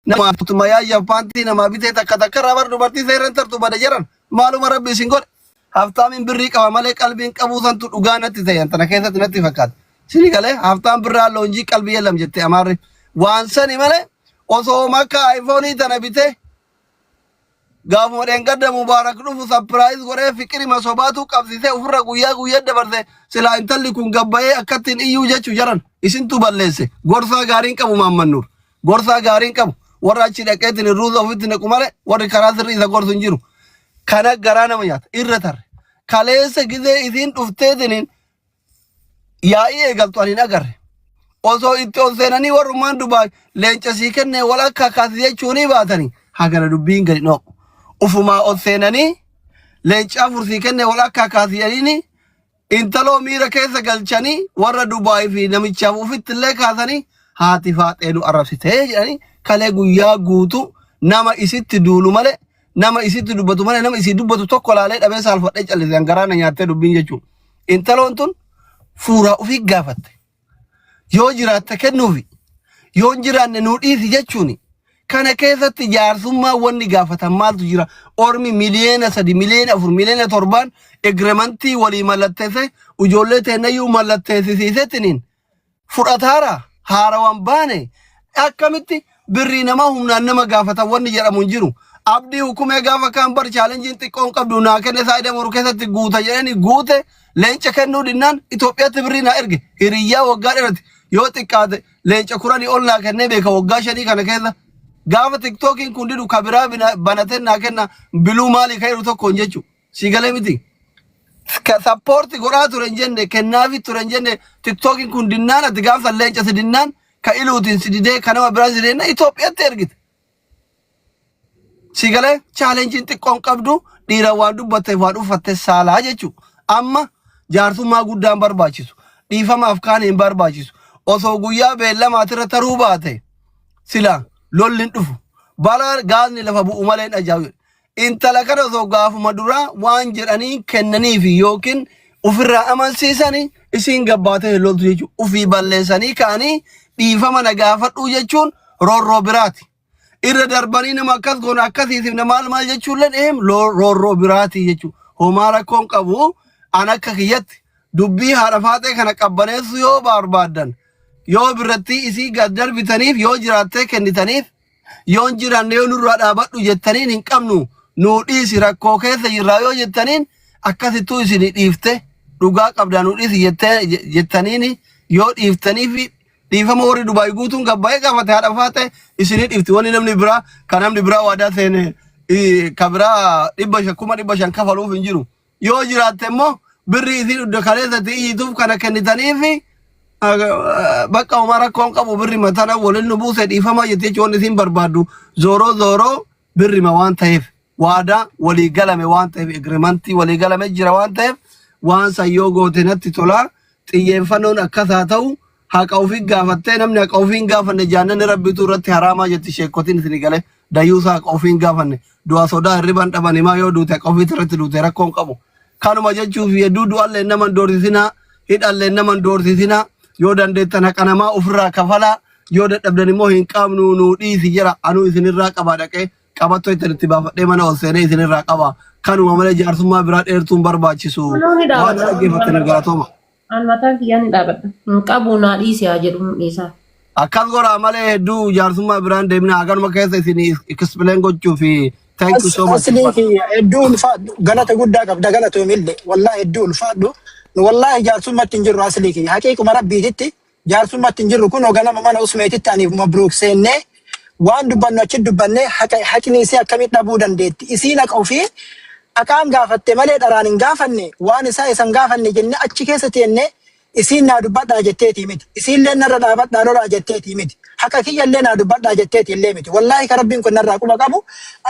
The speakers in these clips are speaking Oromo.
Nama tuma yaayyaaf paantii namaa bitee takka takka irraa bar dubartii seerran tartu bada jedhan maaluma rabbi isin godhe. Haftaamiin birrii qaba malee qalbiin qabuu santu dhugaa natti ta'e tana keessatti natti fakkaata. Sini galee haftaan birraa loonjii qalbii yelam jette amaarri. Waan sani malee osoo makka ayfoonii tana bitee Gaafuma dheengadda Mubaarak dhufu sapiraayis godhee fiqirima sobaatu qabsisee ofirra guyyaa guyyaa dabarse silaa intalli kun gabbayee akkattiin iyyuu jechu jaran isintu balleesse gorsaa gaariin qabu maammannuur gorsaa gaariin qabu warra achi dhaqeetiin irruusa ofitti naqu malee warri karaa sirrii isa gorsu hin jiru kana garaa nama nyaata irra tarre kaleessa gizee isiin dhufteetiniin Yaa'ii eegaltu ani hin agarre. Osoo itti ol seenanii warrummaan dubaan leenca sii kennee wal akka akkaati jechuunii baatanii hagana dubbiin gadi noo. Ufumaa ol seenanii leenca afur sii kennee wal akka akkaati jedhanii intaloo miira keessa galchanii warra Dubaay fi namichaaf ufitti illee kaasanii haati faaxee nu arrabsitee jedhanii kalee guyyaa guutuu nama isitti duulu malee Nama isitti dubbatu malee nama isii dubbatu tokko laalee dhabee saalfadhee callise an garaa na nyaattee dubbiin jechuudha. Intaloon tun fuuraa ofii gaafatte. Yoo jiraatte kennuufi yoo hin jiraanne nuu dhiisi jechuuni. Kana keessatti jaarsummaa wanni gaafatan maaltu jira? Ormi miliyeena sadi, miliyeena afur, miliyeena torbaan egremantii walii mallatteessee ijoollee teennayyuu mallatteessisiisetiniin fudhataara haarawaan baane akkamitti birrii namaa humnaan nama gaafatan wanni jedhamu hin jiru. Abdii hukumee gaafa kaan bar chaalenjiin xiqqoon qabdu naa kenne saayida moru keessatti guuta jedhanii guute leenca kennuu dinnaan Itoophiyaatti birrii naa erge hiriyyaa waggaa dheerati yoo xiqqaate leenca kuranii ol naa kennee beeka waggaa shanii kana keessa. Gaafa tiktookiin kun didu kabiraa bina- banateen naa kenna biluu maalii kan jedhu tokkoon jechuudha. Sii galee miti. Ka- Sappoorti godhaa ture hin jenne kennaafi ture hin jenne tiktookiin kun dinnaan ati gaafa leenca si dinnaan ka iluutiin si didee ka nama biraa si didee Itoophiyaatti ergite. Sii galee chaalenjiin xiqqoon qabdu dhiira waan dubbatteef waan uffatte saalaa jechuudha. Amma jaarsummaa guddaan barbaachisu. Dhiifamaaf kaan hin barbaachisu. Osoo guyyaa beellamaati irra taruu baate sila lolli hin dhufu. Bara gaazni lafa bu'u malee hin ajaa'ibu. intala kana osoo gaafuma duraa waan jedhanii kennaniif yookiin ofirraa amansiisani isiin gabbaatee hin loltu jechuudha. Ofii balleessanii ka'anii dhiifama na gaafadhuu jechuun roorroo biraati. Irra darbanii nama akkas goona akkasiitiif na maal maal jechuullee eem roorroo biraati jechuudha. Homaa rakkoon qabu an akka kiyyatti dubbii haadha faaxee kana qabbaneessuu yoo barbaaddan yoo birrattii isii gad darbitaniif yoo jiraattee kennitaniif Yoon jiraanne yoo nurraa dhaabadhu jettaniin hin qabnu nuu dhiisi rakkoo keessa jirraa yoo jettaniin akkasittuu isin dhiifte dhugaa qabdaa nuu dhiisi jettee- je- jettaniin yoo dhiiftanii fi dhiifama warri Dubaay guutuun gabbaa'ee gaafate haadha faate isinii dhiifti wanni namni biraa kan namni biraa waadaa seene ii, ka biraa dhibba shan kuma dhibba shan kafaluuf hin jiru yoo jiraatte immoo birrii isii dhudda kaleessatti iyyituuf kana kennitaniifi bakka homaa rakkoon qabu birri matana waliin nu buuse dhiifama jettee jechuun isiin barbaaddu zooroo zooroo birrima waan ta'eef waadaa walii galame waan ta'eef egremantii walii galame jira waan ta'eef waan san yoo goote natti tolaa xiyyeeffannoon akkas haa ta'u haqa ofii gaafattee namni haqa ofii hin gaafanne jaannanni rabbitu irratti haraamaa jetti sheekotiin isin galee dayyuusa haqa ofii hin gaafanne du'a sodaa hirriban dhaban himaa yoo duute haqa ofiitti irratti duute rakkoon qabu kanuma jechuuf hedduu du'allee nama hin doorsisinaa hidhallee nama hin doorsisinaa yoo dandeettan haqa namaa ofirraa kafalaa yoo dadhabdan immoo hin qabnu nuu dhiisi jira anuu isinirraa qabaa dhaqee qabattoo ittiin itti baafadhee mana ol seenee isinirraa qabaa kanuma malee jaarsummaa biraa dheertuun barbaachisu waan dhaggeeffattan galatooma. An mataa kiyyaa ni dhaabadha. Hin qabu naa dhiisi haa jedhu hin dhiisaa. Akkas godhaa malee hedduu jaarsummaa biraan deemina haganuma keessa isin explain gochuu fi thank you As, so much aslii ulfaadha. kiyya hedduu ulfaadhu galata guddaa qabda galatoomille wallahi hedduu ulfaadhu nu wallahi jaarsummatti hin jirru aslii kiyya haqiiquma rabbiititti Jaarsummatti hin jirru kunoo ganama mana usmeetitti aniif mabruuk seennee waan dubbannu achi dubbannee haqa haqni isii akkamitti dhabuu dandeetti isiin haqa ofii haqaan gaafatte malee dharaan hin gaafanne waan isaa isan gaafanne jennee achi keessa teennee isiin naa dubbadhaa jetteetii miti isiillee narra dhaabadhaa lolaa jetteetii miti haqa kiyyallee naa dubbadhaa jetteetii illee miti wallaahi ka rabbiin kun narraa quba qabu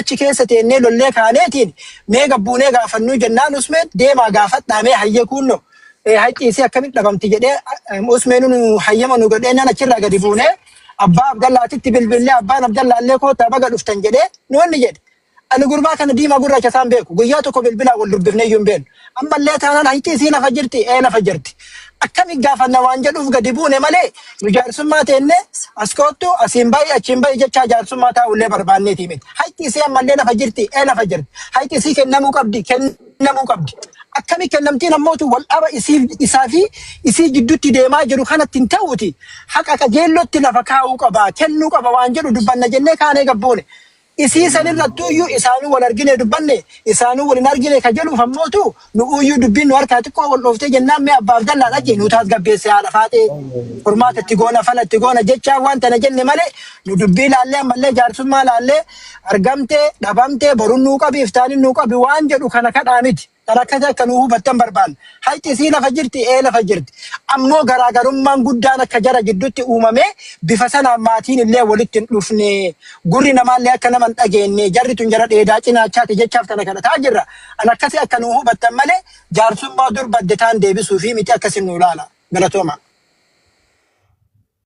achi keessa teennee lollee kaaneetiin mee gabbuunee gaafannuu jennaan usmeet deemaa gaafadhaa mee hayyee kuunnoo Eh, Haqqi isii akkamitti dhabamti jedhee eh, Usmeenuu nu hayyama nu godhee naan achirraa gadi buunee abbaa Abdallaatitti bilbillee abbaan Abdallaallee kootaa baga dhuftan jedhee nuunni jedhe. Ani gurbaa kana diimaa gurraacha isaan beeku. Guyyaa tokko bilbilaa wal dubbifnee iyyuu hin beeknu. Ammallee taanaan hayti isii lafa jirti ee lafa jirti. Akkami gaafanna waan jedhuuf gadi buune malee nu jaarsummaa teenne as koottu asiin ba'i achiin ba'i jechaa jaarsummaa taa'ullee barbaanneeti miti. Hayti isii ammallee lafa jirti ee lafa jirti. Hayti isii kennamuu qabdi kenn kennamuu qabdi. Akkami kennamtiin ammootu wal dhaba isiif isaa fi isii gidduutti deemaa jiru kanatti hin ta'uuti. Haqa qajeellootti lafa kaa'uu qaba, kennuu qaba waan jedhu dubbanna jennee kaanee gabboone. Isii sanirrattuu iyyuu isaanuu wal argine dubbanne, isaanuu wal hin argine ka jedhuuf ammootu nu iyyuu dubbiin nu harkaa xiqqoo wal dhooftee jennaan mee abbaaf dallaa dhaqi nu taasgabbeesse haadha faaxee. Furmaata itti goona, fala itti goona jechaa waan tana jenne malee nu dubbii laallee ammallee jaarsummaa laallee argamtee dhabamtee borun nuu qabi iftaanin nuu qabi waan jedhu kana kadhaa miti kan akkasii akka nuu hubattan barbaanna haqi isii lafa jirti ee lafa jirti ammoo garaagarummaan guddaan akka jara giddutti uumamee bifa sanaan maatiin illee walitti hin dhufne gurri namaallee akka nama hin dhageenne jarri tun jara dheedaa cinaachaati jechaaf tana kadhataa jirra an akkasii akka nuu hubattan malee jaarsummaa dur badde taan deebisuufi miti akkasii nuu laala galatooma.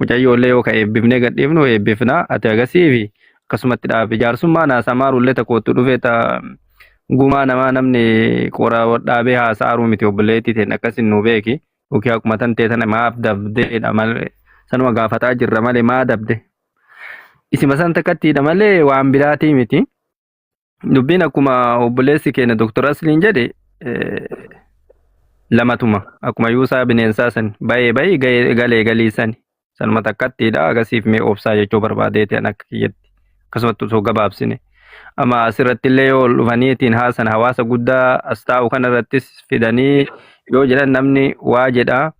Mucayyoo illee yoo ka eebbifnee gad dhiifnu eebbifna ati agasiifi akkasumatti dhaabi jaarsummaa naasa maaru illee ta koottu dhufee ta gumaa namaa namni qora dhaabee haasa'aaruu miti obboleettii teen akkasin nuu beeki yookiin akkuma tan tee tana maaf dabdeedha malee sanuma gaafataa jirra malee maa dabde isima san takkattiidha malee waan biraatii miti. Dubbiin akkuma obboleessi keenya Dr. Asliin jedhe lamatuma akkuma yuusaa bineensaa san bayee bayii galee galii sani sanuma takkattiidha agasiif mee obsaa jechuu barbaadeeti an akka kiyyatti akkasumatti osoo gabaabsine. Amma asirratti illee yoo ol dhufaniitiin haasan hawaasa guddaa as taa'u kanarrattis fidanii yoo jedhan namni waa jedhaa.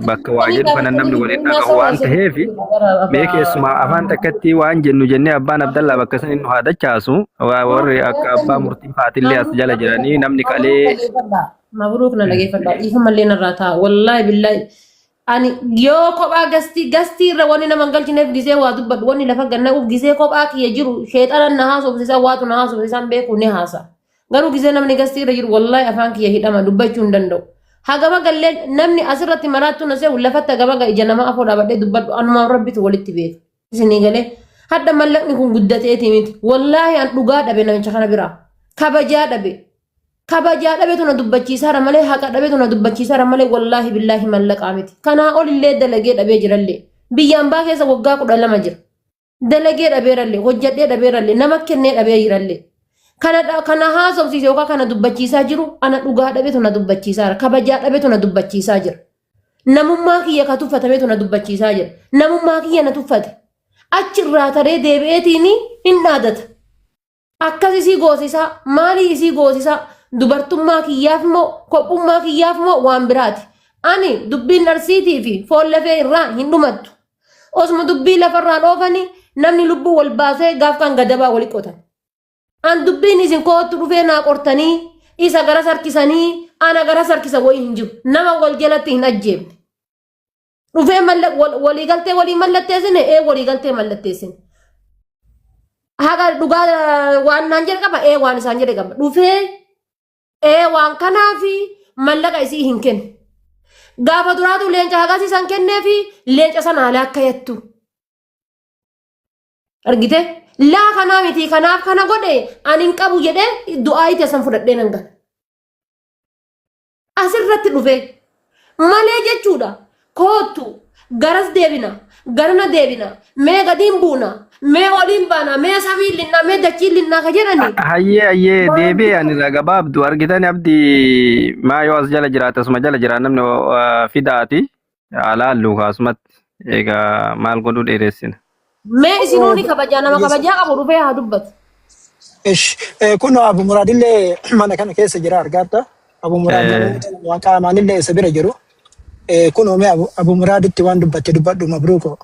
bakka waa jedhu kana namni waliin dhagahu waan ta'eef mee keessumaa afaan takkatti waan jennu jennee abbaan abdallaa bakka san inni haa dachaasu warri akka abbaa murtii faatillee as jala jiranii namni qalee Mabruuk na dhageeffadha. Dhiifamallee narraa ta'a. Wallaahi billaahi. Ani yoo kophaa gastii gastii irra wanni nama hin galchineef gisee waa dubbadhu wanni lafa ganna'uuf gisee kophaa kiyya jiru sheexanan na haasofsiisaa waatu na haasofsiisaan beeku ni haasa. Garuu gisee namni gastii irra jiru wallahi afaan kiyya hidhama dubbachuu hin danda'u. Hagama gallee namni asirratti maraattuu na seehu lafatti hagama ga ija namaa afoo dhaabadhee dubbadhu anumaa rabbitu walitti beeka. Isinii galee hadda mallaqni kun guddateeti miti. Wallahi an dhugaa dhabe namicha kana biraa. Kabajaa dhabe. Kabajaa dhabetu na dubbachiisaara malee haqa dhabetu na dubbachiisaara malee wallahi billahi mallaqaa miti. Kanaa olillee dalagee dhabee jirallee. Biyya ambaa keessa waggaa kudha lama jira. dalagee dhabeerallee hojjadhee dhabeerallee nama kennee dhabee jirallee kana dha- kana haasofsiise yookaan kana dubbachiisaa jiru ana dhugaa dhabetu na dubbachiisaa jira kabajaa dhabetu na dubbachiisaa jira namummaa kiyya ka tuffatametu na dubbachiisaa jira namummaa kiyya na tuffate achi irraa taree deebi'eetiin hin dhaadata Akkas isii goosisaa maalii isii goosisaa dubartummaa kiyyaaf moo kophummaa kiyyaaf moo waan biraati. Ani dubbiin arsiitii fi foon lafee irraa hin dhumattu. Osuma dubbii lafarraan oofanii namni lubbuu wal baasee gaaf kan gadabaa wali qotan. An dubbiin isin koottu dhufee naa qortanii isa gara sarkisanii ana gara sarkisa wayii hin jiru. Nama wal jalatti hin ajjeefne. Dhufee malla- wal- waliigaltee walii mallatteessine ee waliigaltee mallatteessine. Haqa dhugaa eh, waan naan jedhe qaba ee waan isaan jedhe qaba. Dhufee ee waan kanaa fi mallaqa isii hin kennu. Gaafa duraatu leenca haqasii san kennee fi leenca sana haala akka yattu. Argite? Laa kanaa miti kanaaf kana godhe ani hin qabu jedhee du'aa itti san fudhadhee nan gala. Asirratti dhufe malee jechuudha koottu garas deebina garana deebina mee gadiin buuna mee oliin baana mee samiin linnaa mee dachiin linnaa ka jedhani Hayyee hayyee deebi'e ani irraa gabaabdu argitan abdi maa yoo as jala jiraate asuma jala jira namni uh, fidaati. Haa laallu kaasumatti. Egaa maal godhuu dheeressina. Mee isinuu ni kabajaa nama kabajaa qabu dhufee haa dubbatu. Ish, eh, kun Abu Muraad illee mana kana keessa jira argaadha. Abu Muraad Eh, namoota lama qaamaan illee isa bira jiru. Eh, kun oomee Abu, Abu Muraaditti waan dubbatte dubbadhu mabruuko.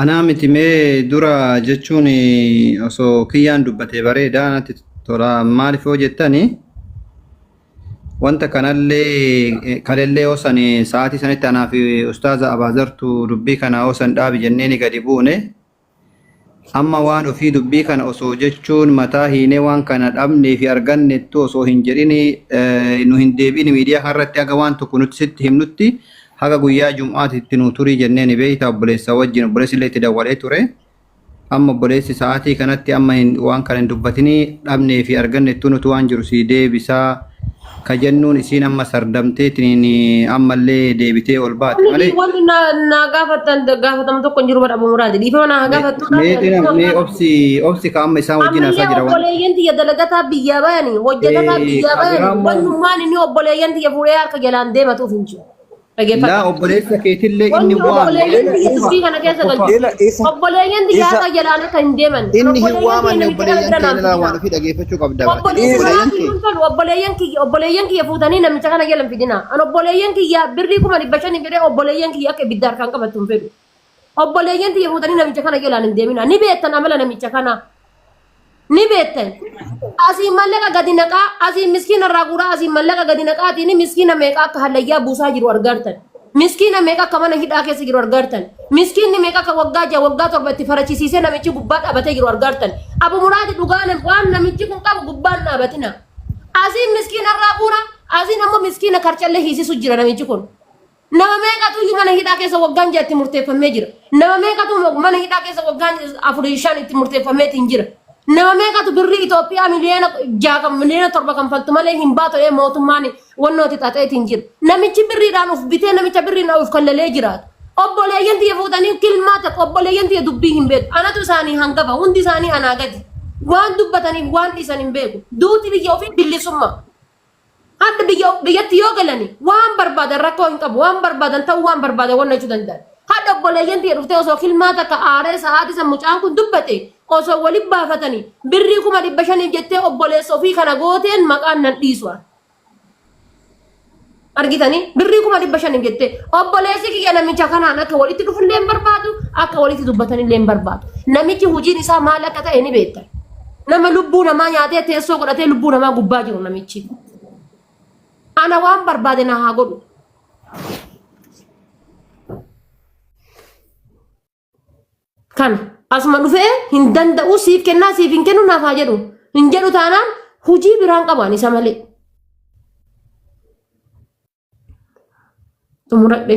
Anaa miti mee dura jechuun osoo kiyyaan dubbatee bareedaa natti tola maaliif yoo jettani wanta kanallee kalellee osan sa'aatii sanitti anaa fi ustaaza abaazartu dubbii kana osan dhaabi jennee ni gadi buune Amma waan ofii dubbii kana osoo jechuun mataa hiinee waan kana dhabnee fi argannettuu osoo hin jedhin nu hin deebi'in miidiyaa kana irratti haga waan tokko nuti sitti himnutti haga guyyaa jum'aati itti nuu turii jenneeni beeytaa obboleessaa wajjiin obboleessi illee itti dawwalee ture amma obboleessi sa'aatii kanatti amma hin waan kana hin dubbatinii dhabnee fi argannettuu nutu waan jiru sii deebisaa ka jennuun isiin amma sardamteetiin ammallee deebitee ol baate Wanti malee wanti na na gaafatan gaafatamu tokko hin jiru bara Abu Muraad. Dhiifama na gaafattu mee mee dhina- mee obsi obsi ka amma isaan wajjin haasaa Ammallee jira waan obboleeyyan tiyya dalagataa biyyaa bayani hojjetataa Eh, biyyaa bayani Abiraam- wannummaan inni obboleeyyan tiyya fuudhee harka jalaan deematuuf hin jiru. Dhaggeeffadha. Laa obboleessa keetillee inni Wanni waame. obboleeyyan Ela- biyya ela- dubbii kana keessa tokko- galchu. Ela isa Obboleeyyan isa xiyyaarota jalaan akka hin deeman. Inni hin Obboleeyyan kee waamanne namicha kana obboleeyyan bira kee naan ilaa waan fidinaa. ofii dhageeffachuu qabda baate. Obboleeyyan Isa- Obboleeyyan kee. kun fedhu obboleeyyan kiyya obboleeyyan kiyya fuutanii namicha kana jalan fidinaa. An obboleeyyan kiyya birrii kuma dhibba shaniin fedhee obboleeyyan kiyya akka ibidda harkaan qabattu hin fedhu. Obboleeyyan tiyya fuutanii namicha kana jalaan hin deeminaa. Ni beektan amala namicha kanaa. Ni beektan. Asiin mallaqa gadi naqaa, asiin miskiina irraa guuraa, asiin mallaqa gadi naqaatiin miskiina meeqa akka hallayyaa buusaa jiru argaartan. Miskiina meeqa akka mana hidhaa keessa jiru argaartan. Miskiinni meeqa akka waggaa ja'a waggaa torba itti farachisiisee namichi gubbaa dhaabatee jiru argaartan. Abu Muraadi dhugaa nam- waan namichi kun qabu gubbaan dhaabatina. Asiin miskiina irraa guura, asiin ammoo miskiina karcallee hiisisu jira namichi kun. Nama meeqatu iyyuu mana hidhaa keessa waggaan ja'a itti murteeffamee jira. Nama meeqatu mana hidhaa keessa waggaan afurii shan itti murteeffameetiin jira. Nama meeqatu birrii Itoophiyaa miliyoona ja'a kan miliyoona torba kan faltu malee hin baatu ee mootummaan wannooti xaxeetiin jira. Namichi birriidhaan of bitee namicha birriidhaan of kallalee jiraatu. Obboleeyyan tiyya fuudhanii kilmaa ta'u obboleeyyan tiyya dubbii hin beeku. Anatu isaanii hangafa hundi isaanii anaa gadi. Waan dubbataniif waan dhiisan hin beeku. Duuti biyya ofii bilisummaa. Hadha biyya biyyatti yoo galani waan barbaadan rakkoo hin qabu waan barbaadan ta'uu waan barbaadan wanna jechuu danda'an. Hadha obboleeyyan tiyya dhuftee osoo kilmaa takka aaree sa'aatii san mucaan kun dubbate osoo wali baafatani birrii kuma dhibba shaniif jettee obboleessa ofii kana gooteen maqaan nan dhiisu an. argitanii birrii kuma dhibba shaniif jettee obboleessi kiyya namicha kanaan akka walitti dhufullee hin barbaadu akka walitti dubbatanillee hin barbaadu namichi hojiin isaa maal akka ta'e ni beektan Nama lubbuu namaa nyaatee teessoo godhatee lubbuu namaa gubbaa jiru namichi. Ana waan barbaade na haa godhu. Kana asuma dhufee hin danda'u siif kennaa siif hin kennu naaf haa jedhu. Hin jedhu taanaan hojii biraan qabu ani isa malee. Xumuradhe.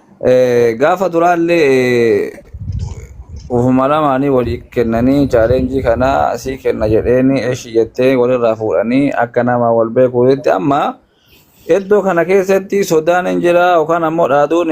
Gaafa duraallee ufuma lamaanii walii kennanii chaaleenjii kana sii kenna jedheeni eshi jettee walirraa fuudhanii akka nama wal beekuutti amma iddoo kana keessatti sodaan hin jira yookaan ammoo dhaaduun